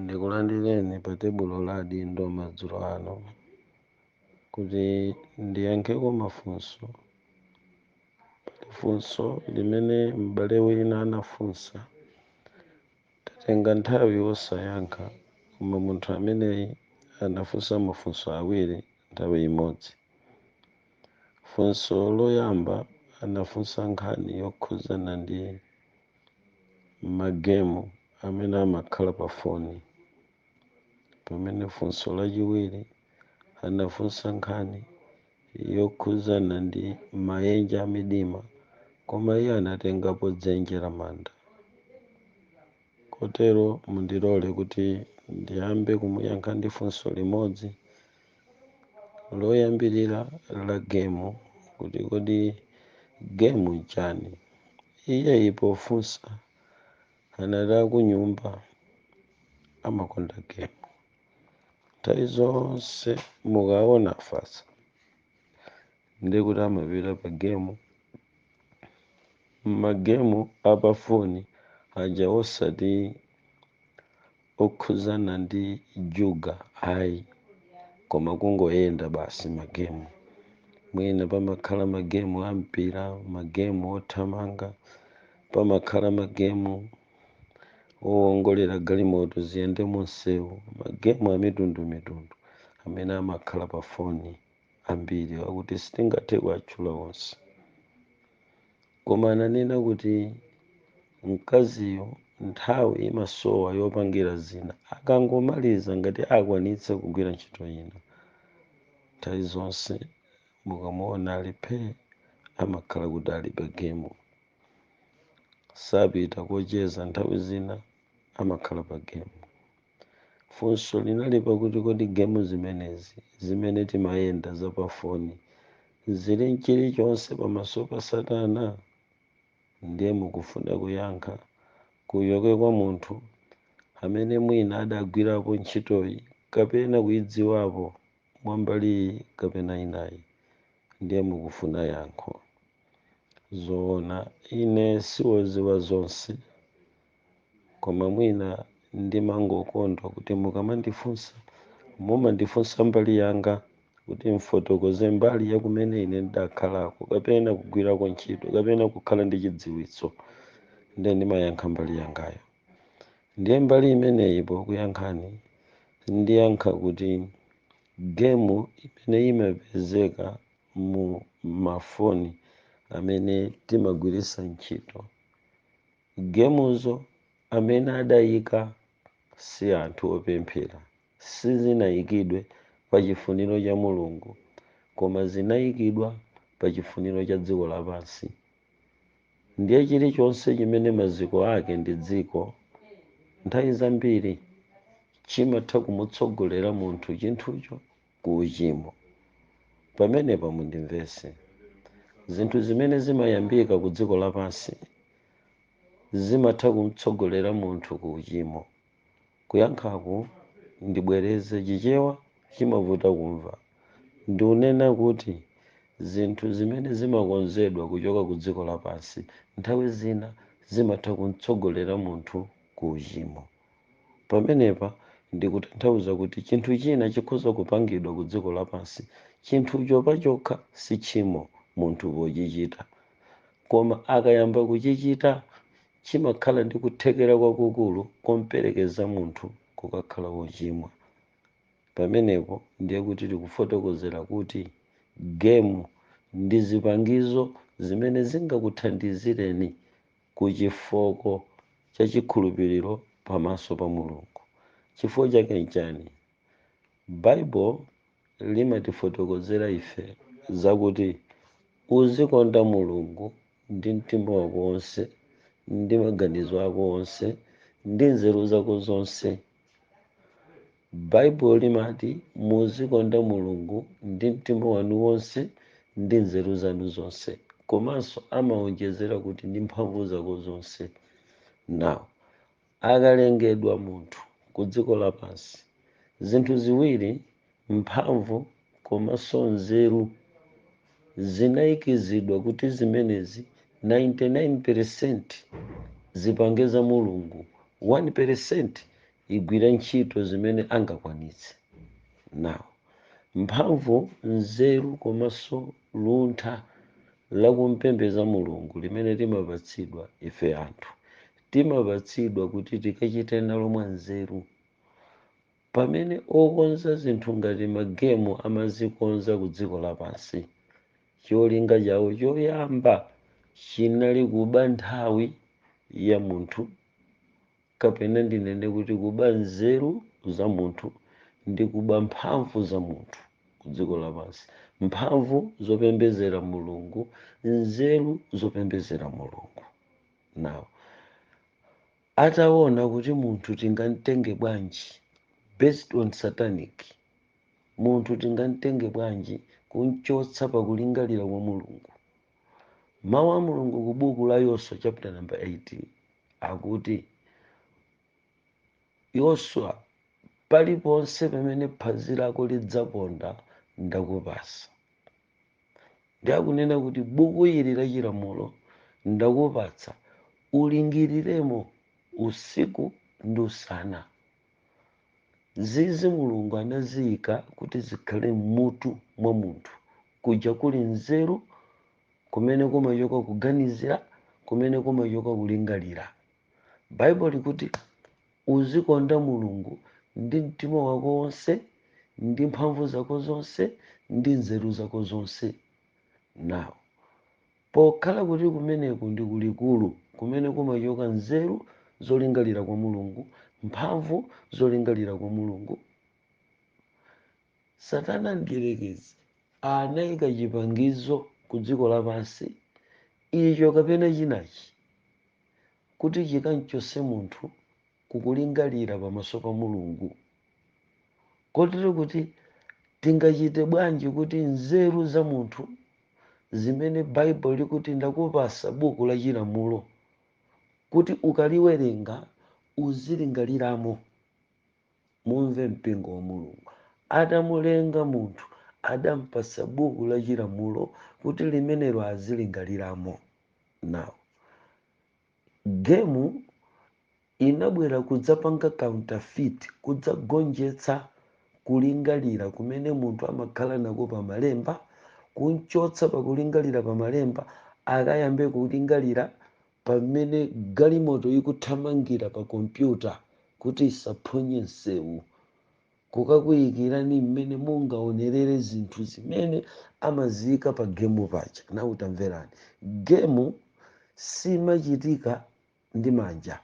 Ndikulandireni pa tebulo la adindo madzulo ano kuti ndiyankheko mafunso. Pali funso limene m'bale wina anafunsa. Tatenga nthawi osayankha, koma munthu ameneyi anafunsa mafunso awiri nthawi imodzi. Funso loyamba anafunsa nkhani yokhudzana ndi magemu amene amakhala pa foni. Pamene funso lachiwiri anafunsa nkhani yokhudzana ndi maenje a midima, koma iye anatengapo dzenje la manda. Kotero mundilole kuti ndiyambe kumuyankha ndi funso limodzi loyambirira la gemu kuti kodi gemu nchani iyeyi pofunsa anati akunyumba amakonda gemu nthawi zonse mukaona afatsa ndiye kuti amapita pa gemu magemu apafoni aja osati okhuzana ndi juga ayi koma kungoyenda basi magemu mwina pamakhala magemu a mpira magemu othamanga pamakhala magemu owongolera galimoto ziyende munsewu magemu amitundumitundu amene amakhala pa foni ambiri akuti sitingathe kuwatchula onse koma ananena kuti mkaziyo nthawi imasowa yopangira zina akangomaliza ngati akwanitsa kugwira ntchito ina nthawi zonse mukamuona ali phee amakhala kuti ali pa gemu sapita kocheza nthawi zina amakhala pa gemu Funso linali pakuti kodi gemu zimenezi zimene timayenda za pafoni zili nchilichonse pamaso pa Satana? Ndiye mukufuna kuyankha kuchoke kwa munthu amene mwina adagwirapo ntchitoyi kapena kuidziwapo mwa mbali iyi kapena inayi? Ndiye mukufuna yankho? Zoona ine siwoziwa zonse koma mwina ndimangokonda kuti mukamandifunsa mumandifunsa mbali yanga kuti mfotokoze mbali ya kumene ine ndidakhalako kapena kugwirako ntchito kapena kukhala ndi chidziwitso nde ndimayankha mbali yangayo ndiye mbali imeneyi pokuyankhani ndiyankha kuti gemu imene imapezeka mu mafoni amene timagwiritsa ntchito Gemuzo amene adayika si anthu opemphera, sizinayikidwe pa chifuniro cha Mulungu koma zinayikidwa pa chifuniro cha dziko lapansi. Ndiye chilichonse chimene maziko ake ndi dziko, nthawi zambiri chimatha kumutsogolera munthu chinthucho ku uchimo pamenepa mundimvese zinthu zimene zimayambika ku dziko lapansi zimatha kumtsogolera munthu ku uchimo kuyankhaku ndibwereze chichewa chimavuta kumva ndiunena kuti zinthu zimene zimakonzedwa kuchoka ku dziko lapansi nthawi zina zimatha kumtsogolera munthu ku uchimo Pamenepa ndikutanthauza kuti chinthu china chikhoza kupangidwa ku dziko lapansi, chinthucho pachokha si tchimo munthu pochichita, koma akayamba kuchichita chimakhala ndi kuthekera kwakukulu komperekeza munthu kukakhala wochimwa. Pamenepo ndiye kuti tili kufotokozera kuti game ndi zipangizo zimene zingakuthandizireni ku chifooko cha chikhulupiriro pamaso pa Mulungu. Chifukwa chake nchani? Baibulo limatifotokozera ife zakuti uzikonda Mulungu ndi mtima wako onse, ndi maganizo ako onse, ndi nzeru zako zonse. baibulo limati muzikonda mulungu ndi mtima wanu wonse ndi nzeru zanu zonse komanso amawonjezera kuti ndi mphamvu zako zonse now akalengedwa munthu ku dziko lapansi zinthu ziwiri mphamvu komanso nzeru zinaikizidwa kuti zimenezi 99% zipange za Mulungu, 1% igwire ntchito zimene angakwanitse. Now, mphamvu, nzeru komanso luntha la kumpembeza Mulungu limene timapatsidwa ife anthu, timapatsidwa kuti tikachite nalo mwanzeru. Pamene okonza zinthu ngati magemu amazikonza kudziko lapansi, cholinga chawo choyamba chinali kuba nthawi ya munthu, kapena ndinene kuti kuba nzeru za munthu ndi kuba mphamvu za munthu kudziko lapansi, mphamvu zopembedzera Mulungu, nzeru zopembedzera Mulungu. Now. Ataona kuti munthu tingamtenge bwanji based on satanic, munthu tingamtenge bwanji kumchotsa pa kulingalira kwa Mulungu. Mawu a Mulungu ku buku la Yoswa chapter number 8 akuti Yoswa, paliponse pamene phazi lako lidzaponda ndakupasa. ndi akunena kuti buku ili la chilamulo ndakupatsa ulingaliremo usiku ndi usana zizi mulungu anaziyika kuti zikhale m'mutu mwa munthu kuja kuli nzeru kumene kumachoka kuganizira kumene kumachoka kulingalira baibulo likuti Uzikonda Mulungu ndi mtima wako wonse, ndi mphamvu zako zonse, ndi nzeru zako zonse. Now, pokhala kuti kumeneku ndi ku likulu kumene kumachoka nzeru zolingalira kwa Mulungu, mphamvu zolingalira kwa Mulungu, Satana Mdyerekezi anaika chipangizo ku dziko lapansi, icho kapena chinachi, kuti chikamchotse munthu ku kulingalira pamaso pa Mulungu. Kotero kuti tingachite bwanji kuti nzeru za munthu zimene Baibulo likuti ndakupasa buku la chilamulo kuti ukaliwerenga uzilingaliramo. Mumve mpingo wa Mulungu. Atamulenga munthu adampasa buku la chilamulo kuti limenelo azilingaliramo. now gemu inabwera kudzapanga counterfeit kudzagonjetsa kulingalira kumene munthu amakhala nako pa malemba kunchotsa pakulingalira pa malemba akayambe kulingalira pamene galimoto ikuthamangira pa kompyuta kuti isaphonye msewu kukakuikirani mmene mungaonerere zinthu zimene amaziika pa gemu paja nawu tamverani gemu simachitika ndi manja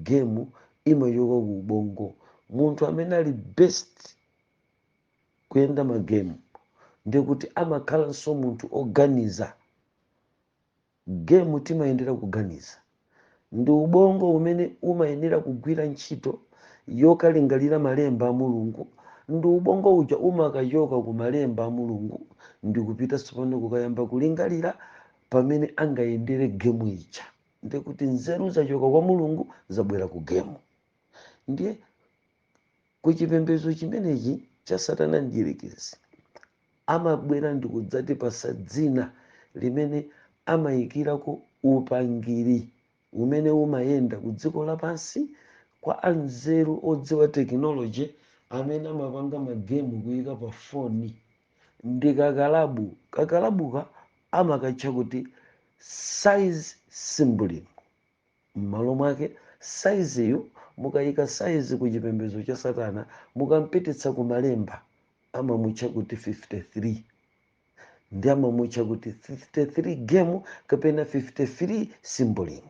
gemu imachoka ku ubongo munthu amene ali best kuyenda magemu ndikuti amakhalanso munthu oganiza Game timayendera kuganiza. Ndi ubongo umene umayenera kugwira ntchito yokalingalira malemba a Mulungu, ndi ubongo uja umakachoka ku malemba a Mulungu ndikupita tsopano kukayamba kulingalira pamene angayendere game ija. Ndekuti nzeru zachoka kwa Mulungu zabwera ku game. Ndiye ku chipembedzo chimenechi cha Satana Mdyerekezi, amabwera ndikudzatipatsa dzina limene amayikirako upangiri umene umayenda ku dziko lapansi kwa anzeru odziwa tekinoloje amene amapanga magemu kuyika pa foni ndi kakalabu. Kakalabuka amakatcha kuti size symbolism. M'malo mwake, saiziyu mukaika saizi ku chipembedzo cha Satana, mukampititsa ku Malemba, amamutcha kuti 53, ndi amamutcha kuti 53 gemu kapena 53 symbolism.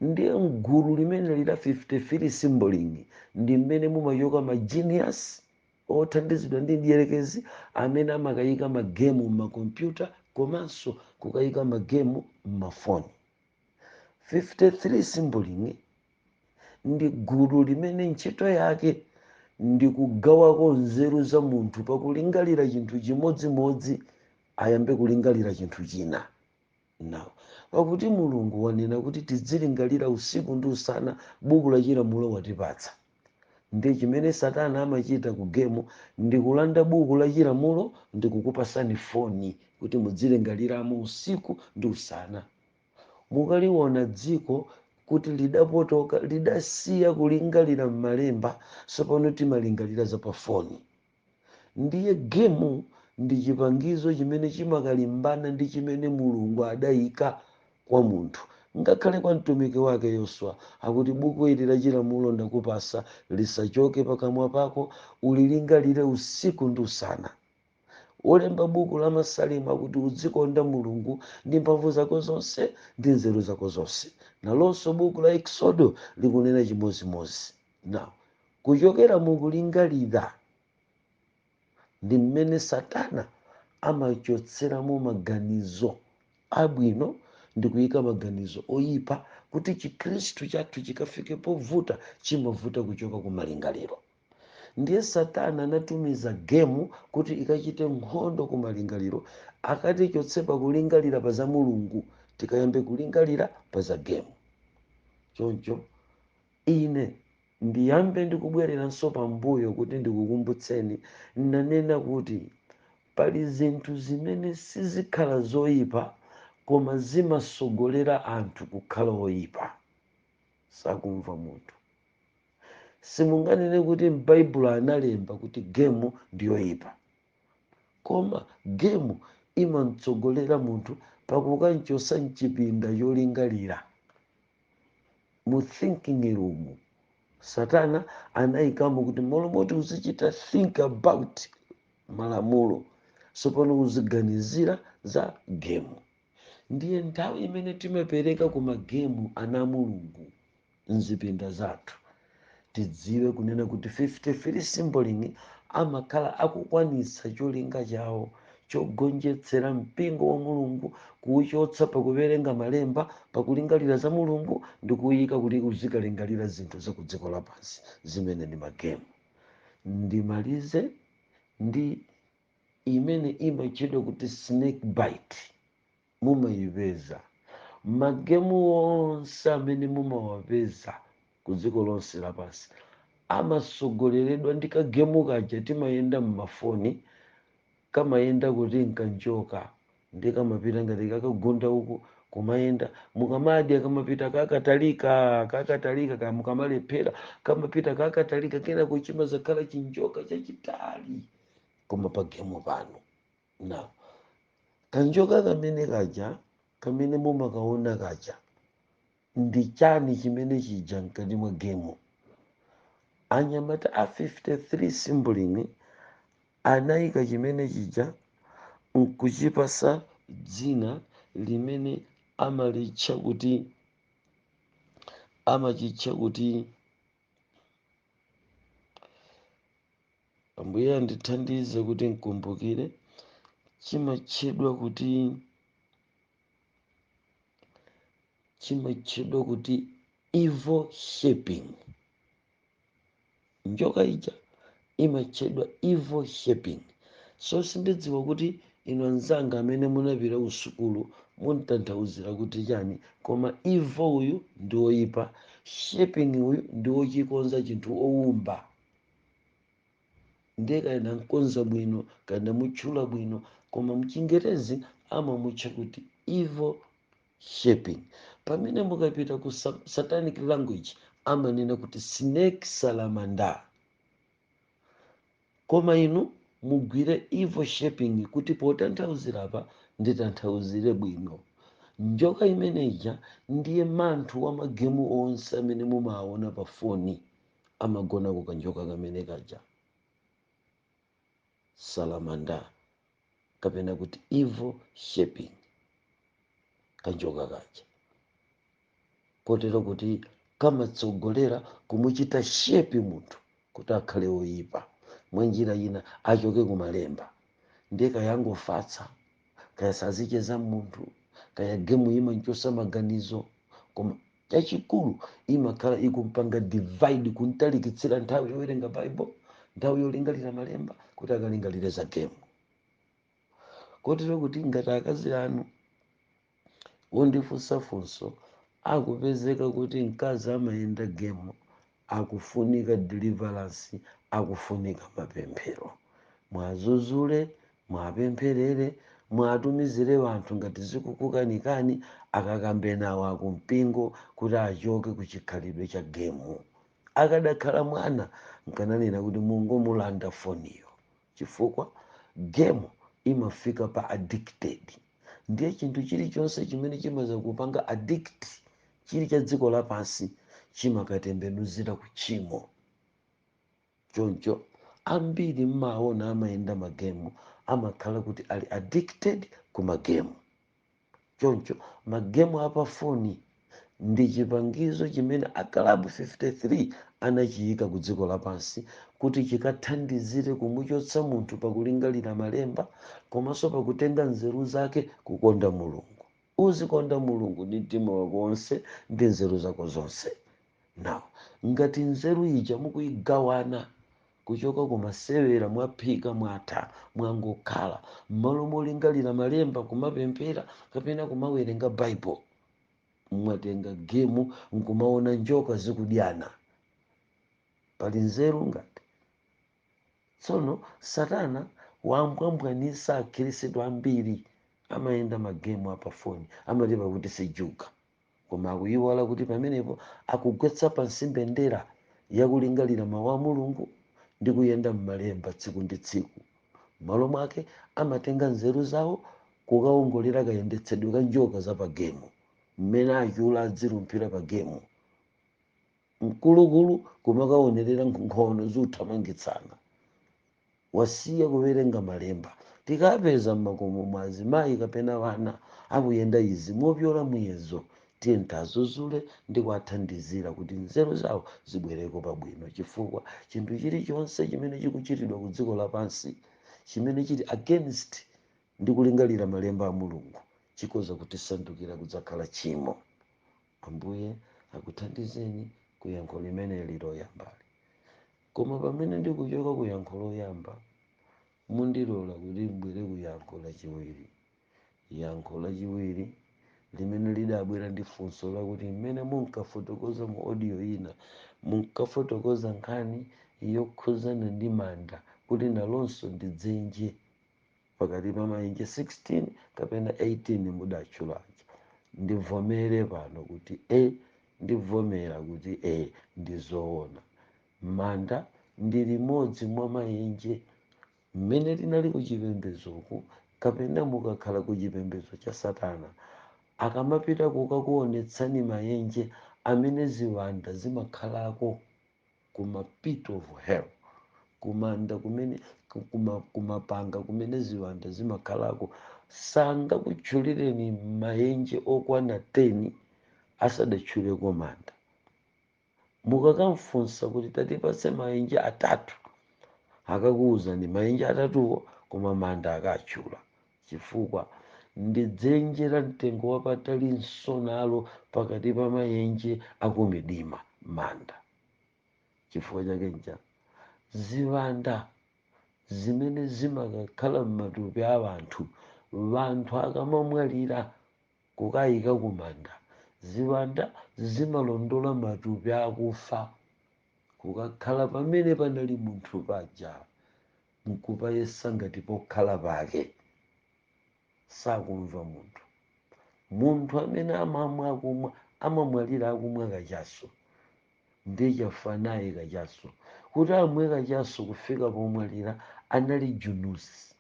Ndiye m'gulu limeneli la 53 symbolism ndi mmene mumachoka majeniyasi othandizidwa ndi mdierekezi amene amakaika magemu m'makompyuta komanso kukaika magemu m'mafoni. 53 symbolism ndi gulu limene ntchito yake ndi kugawako nzeru za munthu pakulingalira chinthu chimodzimodzi ayambe kulingalira chinthu china now pakuti mulungu wanena kuti tidzilingalira usiku ndi usana buku la chilamulo watipatsa ndi chimene satana amachita ku gemu ndi kulanda buku la chilamulo ndi kukupasani foni kuti mudzilingaliramo usiku ndi usana Mukaliona dziko kuti lidapotoka, lidasiya kulingalira m'malemba, tsopano timalingalira za pa foni. Ndiye gemu ndi chipangizo chimene chimakalimbana ndi chimene Mulungu adaika kwa munthu. Ngakhale kwa mtumiki wake Yoswa akuti buku ili la chilamulo ndakupasa lisachoke pakamwa pako, ulilingalire usiku ndi usana. Wolemba buku la Masalimo akuti, Uzikonda Mulungu ndi mphamvu zako zonse ndi nzeru zako zonse. Nalonso buku la Eksodo likunena chimodzimodzi. Now, kuchokera mu kulingalira ndi mmene Satana amachotseramo maganizo abwino ndi kuyika maganizo oyipa kuti Chikhristu chathu chikafike povuta, chimavuta kuchoka ku malingaliro. ndiye satana anatumiza gemu kuti ikachite nkhondo ku malingaliro akatichotse pakulingalira pa za mulungu tikayambe kulingalira pa za gemu choncho ine ndiyambe ndikubwereranso pambuyo kuti ndikukumbutseni nanena kuti pali zinthu zimene sizikhala zoyipa koma zimasogolera anthu kukhala oyipa sakumva munthu simunganene kuti m'baibulo analemba kuti gemu ndiyoyipa koma gemu imamtsogolera munthu pakukamchotsa mchipinda cholingalira mu thinking room satana anayikamo kuti malo moti uzichita think about malamulo tsopano uziganizira za gemu ndiye nthawi imene timapereka ku magemu ana a mulungu mzipinda zathu tidziwe kunena kuti 53 symboling amakhala akukwanitsa cholinga chawo chogonjetsera mpingo wa mulungu kuuchotsa pakuwerenga malemba pakulingalira za mulungu ndi kuuyika kuti uzikalingalira zinthu za ku dziko lapansi zimene ndi magemu ndimalize ndi imene imatchedwa kuti snake bite mumayipeza. Magemu onse amene mumawapeza ku dziko lonse lapansi amatsogoleredwa ndi kagemu kaja timayenda m'mafoni, kamayenda kuti nkanjoka ndiye kamapita ngati kakagunda uku kumayenda mukamadya kamapita kakatalika kakatalika kaya mukamalephera kamapita kakatalika kenako chimadzakhala chinjoka chachitali koma pagemu panu na kanjoka kamene kaja kamene mumakaona kaja ndi chani chimene chija mkati mwa gemu anyamata a 53 simbling anayika chimene chija nkuchipatsa dzina limene amalitcha kuti amachitcha kuti ambuye andithandize kuti nkumbukire chimatchedwa kuti chimatchedwa kuti evil shaping njoka ija imatchedwa evil shaping so sindidziwa kuti inu anzanga amene munapita ku sukulu muntanthauzira kuti chani koma evil uyu ndi oyipa shaping uyu ndi ochikonza chinthu owumba ndiye kaya ndamkonza bwino kaya ndamutchula bwino koma mchingerezi amamutcha kuti evil shaping pamene mukapita ku sa- satanic language amanena kuti snake salamander koma inu mugwire evil shaping kuti potanthauzira apa nditanthauzire bwino njoka imeneja ndiye manthu wa magemu onse amene mumaona pa foni amagona ku kanjoka kamene kaja salamanda kapena kuti evil shaping kanjoka kaja kotero kuti kamatsogolera kumuchita shepi munthu kuti akhale oyipa mwanjira ina achoke kumalemba ndiye kayangofatsa kaya sazicheza munthu kaya gemu imanchosa maganizo koma chachikulu imakhala ikumpanga divide kuntalikitsira nthawi yowerenga bible nthawi yolingalira malemba kuti akalingalire za gemu kotero kuti ngati akazi anu ondifunsa funso akupezeka kuti mkazi amayenda gemu akufunika deliverance akufunika mapemphero mwazuzule mwapempherere mwatumizire wanthu ngati zikukukanikani akakambe nawo akumpingo kuti achoke kuchikhalidwe cha gemu akadakhala mwana nkananena kuti mungomulanda foniyo chifukwa gemu imafika pa addicted ndiye chinthu chilichonse chimene chimazakupanga addict chili cha dziko lapansi chimakatembenuzira ku tchimo choncho ambiri mmaona amayenda magemu amakhala kuti ali addicted ku magemu choncho magemu a pafoni ndi chipangizo chimene akalabu 53 anachiika kudziko lapansi kuti chikathandizire kumuchotsa munthu pa kulingalira Malemba komanso pa kutenga nzeru zake kukonda Mulungu. Uzikonda Mulungu ndi mtima wako wonse ndi nzeru zako zonse. Now, ngati nzeru ija mukuigawana Kuchoka ku masewera mwaphika mwatha mwangokhala. Mmalo molingalira malemba, kumapemphera kapena kumawerenga bible mwatenga gemu nkumaona njoka zikudyana. Pali nzeru ngati? Tsono satana wambwambwanisa akhrisitu ambiri amayenda magemu a pa foni amati pakuti si juga. koma akuiwala kuti pamenepo akugwetsa pansi mbendera ya kulingalira Mawu a Mulungu ndi kuyenda m'Malemba tsiku ndi tsiku. M'malo mwake, amatenga nzeru zawo kukawongolera kayendetsedwe ka njoka za pa gemu, mmene achule adzilumphira pa gemu, mkulukulu kumakaonerera nkhono zikuthamangitsana. wasiya kuwerenga malemba. Tikapeza m'makomo mwa azimayi kapena ana akuyenda izi mopyola muyezo, tiyeni tiazuzule ndi kuathandizira kuti nzeru zawo zibwereko pabwino chifukwa chinthu chiri chonse chimene chikuchitidwa ku dziko lapansi chimene chiri against ndi kulingalira malemba a Mulungu chikhoza kutisandukira kudzakhala tchimo. Ambuye akuthandizeni ku yankho limeneli loyambali. Koma pamene ndikuchoka ku yankho loyamba, mundilole kuti m'bwere ku yankho lachiwiri. Yankho lachiwiri, limene lidabwera ndi funso lakuti m'mene munkafotokoza mu audio ina, munkafotokoza nkhani yokhuzana ndi manda kuti nalonso ndi dzenje. pakati pa maenje 16 kapena 18 mudatchulaja ndivomere pano kuti e ndivomera kuti e ndizoona manda ndi limodzi mwa maenje mmene tinali kuchipembezoku kapena mukakhala ku chipembezo cha satana akamapita kukakuonetsani maenje amene ziwanda zimakhalako kuma pit of hell kumanda kumene ku- kuma, kumapanga kumene ziwanda zimakhalako sangakutchulireni mayenje okwana 10 asadatchuleko manda mukakamfunsa kuti tatipatse mayenje atatu akakuwuzani mayenje atatuwo koma manda akatchula chifukwa ndi dzenje la mtengo wapatali nalonso pakati pa mayenje akumidima manda chifukwa chake ncha ziwanda zimene zimakakhala m'matupi a anthu anthu akamamwalira kukayika kumanda ziwanda zimalondola matupi akufa kukakhala pamene panali munthu paja nkupayesa ngati pokhala pake. Sakumva munthu. Munthu amene amamwa akumwa amamwalira akumwa kachaso ndiye chafa naye kachaso. Kuti amwe kachaso kufika pomwalira anali junusi,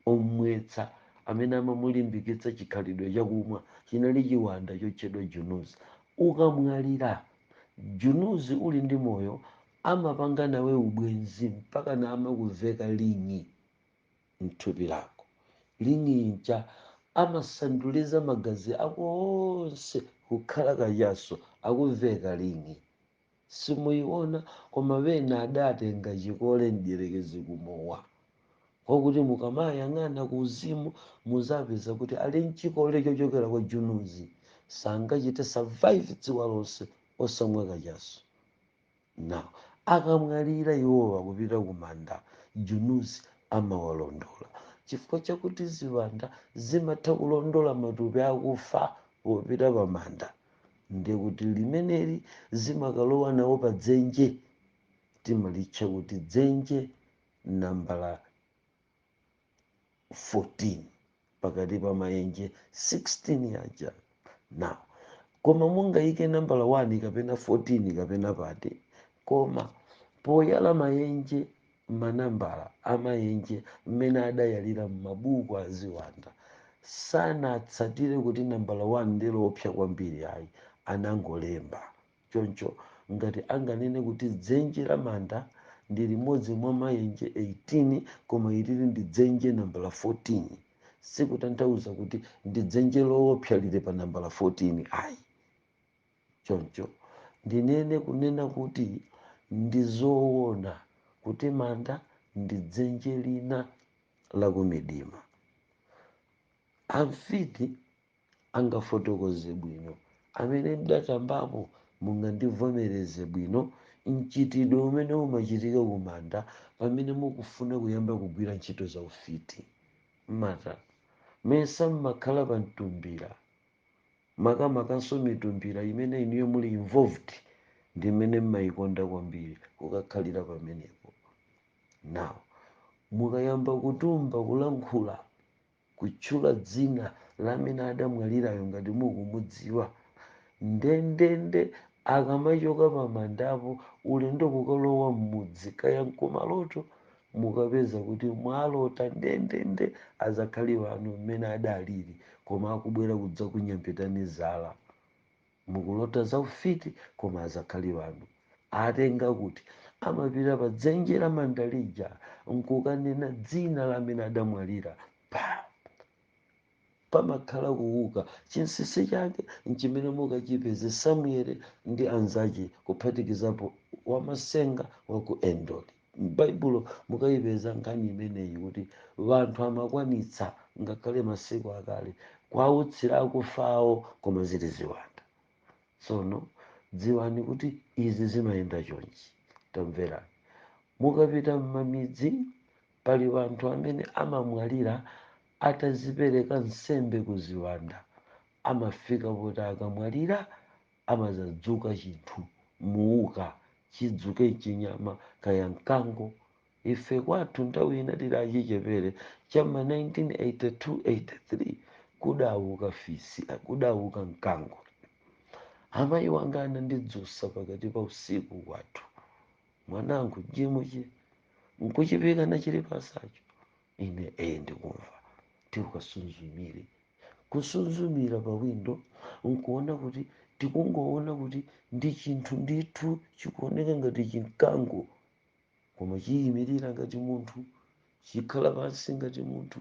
omwetsa, amene amamulimbikitsa chikhalidwe chakumwa chinali chiwanda chotchedwa junusi. Ukamwalira, junusi uli ndi moyo Amapanga nawe ubwenzi mpakana amakuveka ling'i mthupi lako. Ling'i ija amasanduliza magazi ako onse kukhala kachaso, akuveka ling'i. Simuyiona koma ena adatenga chikole mdyerekezi ku mowa. Kwakuti mukamayang'ana ku uzimu muzapeza kuti ali nchikole chochokera kwa junuzi. Sangachite survive dzuwa lonse osamwa kachaso. Now, akamwalira iwowa kupita ku manda Junus amawalondola chifukwa chakuti ziwanda zimatha kulondola matupi akufa popita pa manda ndiye kuti limeneli zimakalowa nawo pa dzenje timalitcha kuti dzenje nambala 14 pakati pa mayenje 16 aja now koma mungayike nambala 1 kapena 14 kapena pati koma poyala mayenje manambala amayenje mmene adayalira m'mabuku a ziwanda sanatsatire kuti nambala 1 ndi loopsa kwambiri ayi anangolemba Choncho, ngati anganene kuti dzenje la manda ndi limodzi mwa mayenje 18 koma ilili ndi dzenje nambala 14, sikutanthauza kuti ndi dzenje loopsa lili pa nambala 14 ayi. Choncho, ndinene kunena kuti ndi zoona kuti manda ndi dzenje lina la kumidima. Amfiti. angafotokoze bwino amene mudatambapo mungandivomereze bwino mchitidwe umene umachitika kumanda pamene mukufuna kuyamba kugwira ntchito za ufiti mmati mesa mmakhala pa mtumbira makamakanso mitumbira imene inuyo muli involved ndi imene mmayikonda kwambiri kukakhalira pamenepo now mukayamba kutamba kulankhula kutchula dzina la amene adamwalirayo ngati mukumudziwa, ndendende akamachoka pamandapo ulendo kukalowa m'mudzi kaya n'kumaloto mukapeza kuti mwalota ndendende azakhali anu mmene adalili koma akubwera kudzakunyambitani zala. Mukulota za ufiti koma azakhali anu atenga kuti? Amapita pa dzenje la manda lija nkukanena dzina la amene adamwalira pa pamakhala kuwuka. Chinsinsi chake nchimene mukachipeze Samuel ndi anzake kuphatikizapo Wamasenga wa ku Endor. m'baibulo mukayipeza nkhani imeneyi kuti wanthu amakwanitsa ngakhale masiku akale kwautsira akufa awo koma zili ziwanda tsono dziwani kuti izi zimayenda chonchi tamverani mukapita m'mamidzi pali wanthu amene amamwalira atadzipereka nsembe ku ziwanda amafika poti akamwalira amazadzuka chinthu muuka chidzuke chinyama kaya mkango ife kwathu nthawi ina tili achichepere cha m'ma 1982 83 kudauka fisi kudauka mkango amayi wanga anandidzusa pakati pa usiku kwathu mwananga jimuchi nkuchipika nachilipasacho ine ee ndikumva tikasuzumire kusuzumira pa windo nkuona kuti tikungoona kuti ndi chinthu ndithu chikuoneka ngati chimkango koma chiyimirira ngati munthu chikhala pansi ngati munthu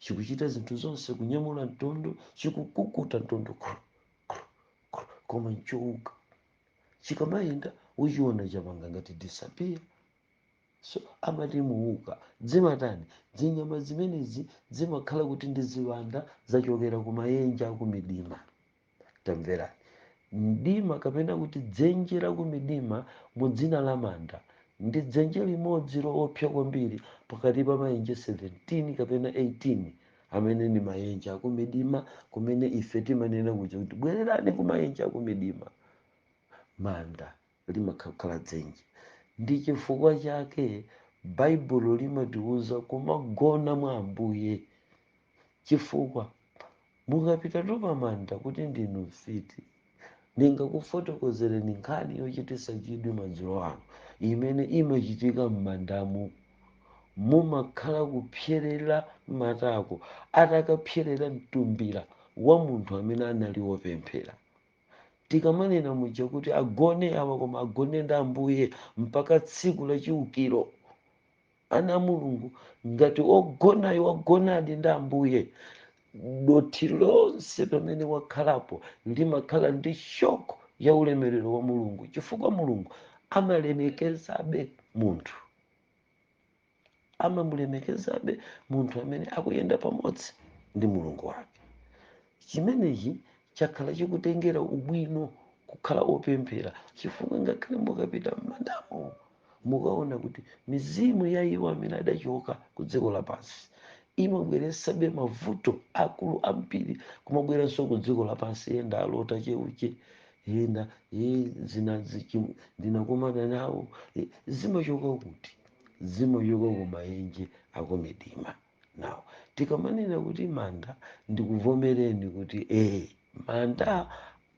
chikuchita zinthu zonse kunyamula mtondo chikukukuta mtondo kru, kru, kru, koma nchouka chikamayenda uchiona chapanga ngati disappear so amati muuka zimatani zinyama zimenezi zimakhala kuti ndi ziwanda zachokera ku mayenje akumidima tamverani mdima kapena kuti dzenje lakumidima mu dzina la manda ndi dzenje limodzi loopsa kwambiri pakati pa mayenje 17 kapena 18 amene ndi mayenje akumidima kumene ife timanena kuja kuti bwererani ku mayenje akumidima manda limakhalakhala dzenje ndi chifukwa chake baibulo limatiuza kumagona mwa ambuye chifukwa mukapita tu pamanda kuti ndinu mfiti ndingakufotokozereni nkhani yochititsa chidwi madzulo ano imene imachitika m'mandamu mumakhala kupserera matako atakapserera mtumbira wa munthu amene anali wopemphera Tikamanena muja kuti agone awa koma agone ndi Ambuye mpaka tsiku la chiukiro. Ana a Mulungu, ngati ogonayo wagonadi ndi Ambuye, dothi lonse pamene wakhalapo limakhala ndi shock ya ulemerero wa Mulungu chifukwa Mulungu amalemekezabe munthu. amamulemekezabe munthu amene akuyenda pamodzi ndi mulungu wake chimenechi chakhala chikutengera ubwino kukhala opemphera chifukwa ngakhale mukapita m'mandamo mukaona kuti mizimu ya iwo amene adachoka ku dziko lapansi imabweretsabe mavuto akulu ambiri kumabweranso ku dziko lapansi yenda alota cheucheu yenda ye zinazi chim- ndinakumana nawo eh, zimachoka kuti zimachoka ku maenje akumidima na tikamanena kuti manda ndikuvomereni kuti ee manda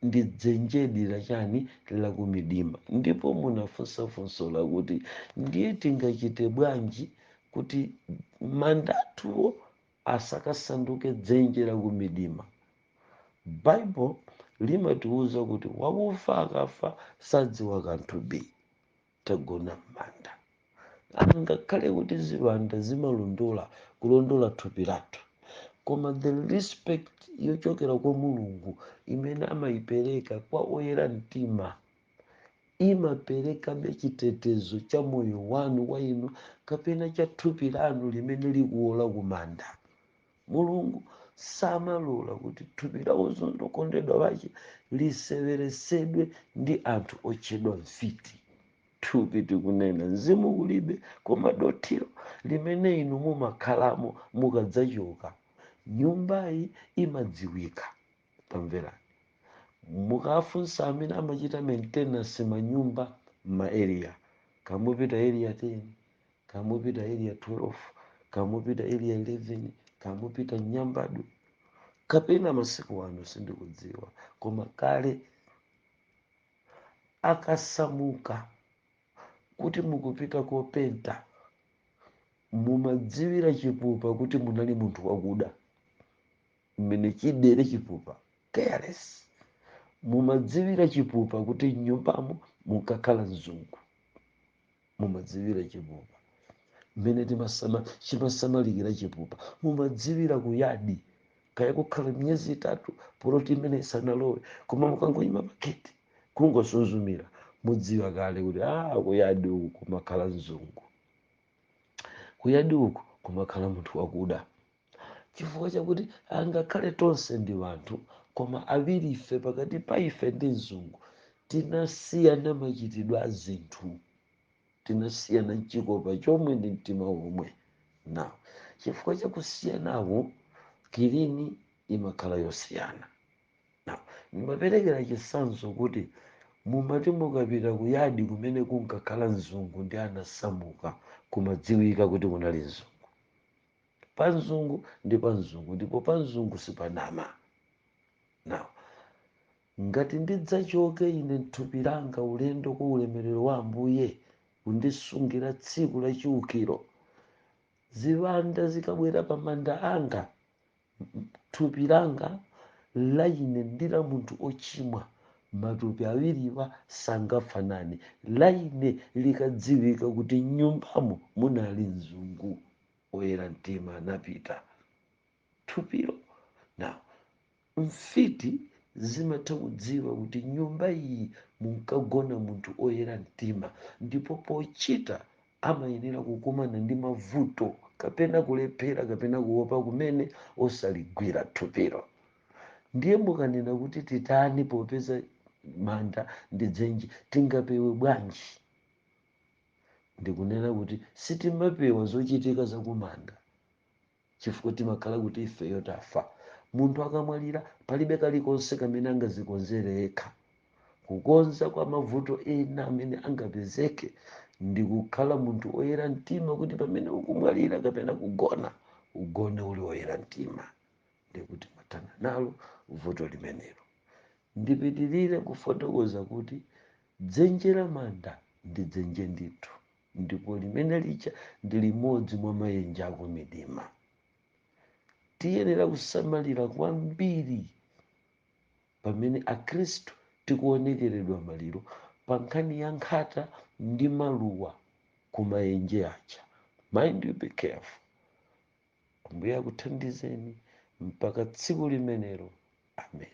ndi dzenjedi lachani lakumidima ndipo munafunsa funso lakuti ndiye tingachite bwanji kuti mandatuwo asakasanduke dzenje lakumidima baibulo limatiuza kuti wakufa akafa sadziwa kanthu bi tagona m'manda angakhale kuti ziwanda zimalondola kulondola thupi lathu koma the respect yochokera kwa mulungu imene amayipereka kwa oyera mtima imaperekabe chitetezo cha moyo wanu wa inu kapena cha thupi lanu limene likuwola kumanda mulungu samalola kuti thupi la okondedwa wake liseweresedwe ndi anthu otchedwa mfiti thupi tikunena mzimu kulibe koma dothiro limene inu mumakhalamo mukadzachoka nyumbayi imadziwika tamverani mukafunsa amene amachita maintenance manyumba m'maeriya kamupita eriya 10 kaya mupita area 12 kaya mupita area 11 kaya mupita nyambadwe kapena masiku ano sindikudziwa koma kale akasamuka kuti mukupita kopenta mumadziwira chipupa kuti munali munthu wakuda mmene chidere chipupa careless mumadziwira chipupa kuti mnyumbamo munkakhala mzungu mumadziwira chipupa mmene timasama- chimasamalikira chipupa mumadziwira kuyadi kaya kukhala miyezi itatu poloti imene isanalowe koma mukangoyima pageti kungosunzumira mudziwa kale kuti a kuyadi uku kumakhala mzungu kuyadi uku kumakhala munthu wakuda chifukwa chakuti angakhale tonse ndi wanthu koma awiri ife pakati pa ife ndi mzungu tinasiyana machitidwe a zinthu tinasiyana mchikopa chomwe ndi mtima womwe na chifukwa chakusiyanawo kilini imakhala yosiyana na ndimaperekera chitsanzo kuti mumati mukapita kuyadi kumene kunkakhala mzungu ndi anasamuka kumadziwika kuti kunali mzungu Pa mzungu ndi pa mzungu, ndipo pa mzungu sipanama. Na, ngati ndidzachoke ine mthupi langa ulendo kwa ulemerero wa Ambuye, kundisungira tsiku la chiukiro, ziwanda zikabwera pa manda anga, thupi langa la ine ndi la munthu ochimwa matupi awiriwa sangafanane la ine likadziwika kuti mnyumbamo munali munthu oyera mtima anapita thupilo na mfiti zimatha kudziwa kuti nyumba iyi munkagona munthu oyera mtima ndipo pochita amayenera kukumana ndi mavuto kapena kulephera kapena kuopa kumene osaligwira thupilo. Ndiye mukanena kuti titani popeza manda ndi dzenje, tingapewe bwanji? Ndikunena kuti sitimapewa zochitika za kumanda chifukwa timakhala kuti ifeyo tafa. Munthu akamwalira, palibe kalikonse kamene angazikonzere yekha. Kukonza kwa mavuto ena amene angapezeke ndi kukhala munthu oyera mtima kuti pamene ukumwalira kapena kugona, ugone uli oyera mtima. Ndiye kuti mwathana nalo vuto limenelo. Ndipitirire kufotokoza kuti dzenje la manda ndi dzenje ndithu. ndipo limene lija ndi limodzi mwa maenje aku midima tiyenera kusamalira kwambiri pamene akhristu tikuonekeredwa maliro pa nkhani ya nkhata ndi maluwa ku maenje aja mind you be careful ambuye akuthandizeni mpaka tsiku limenelo amen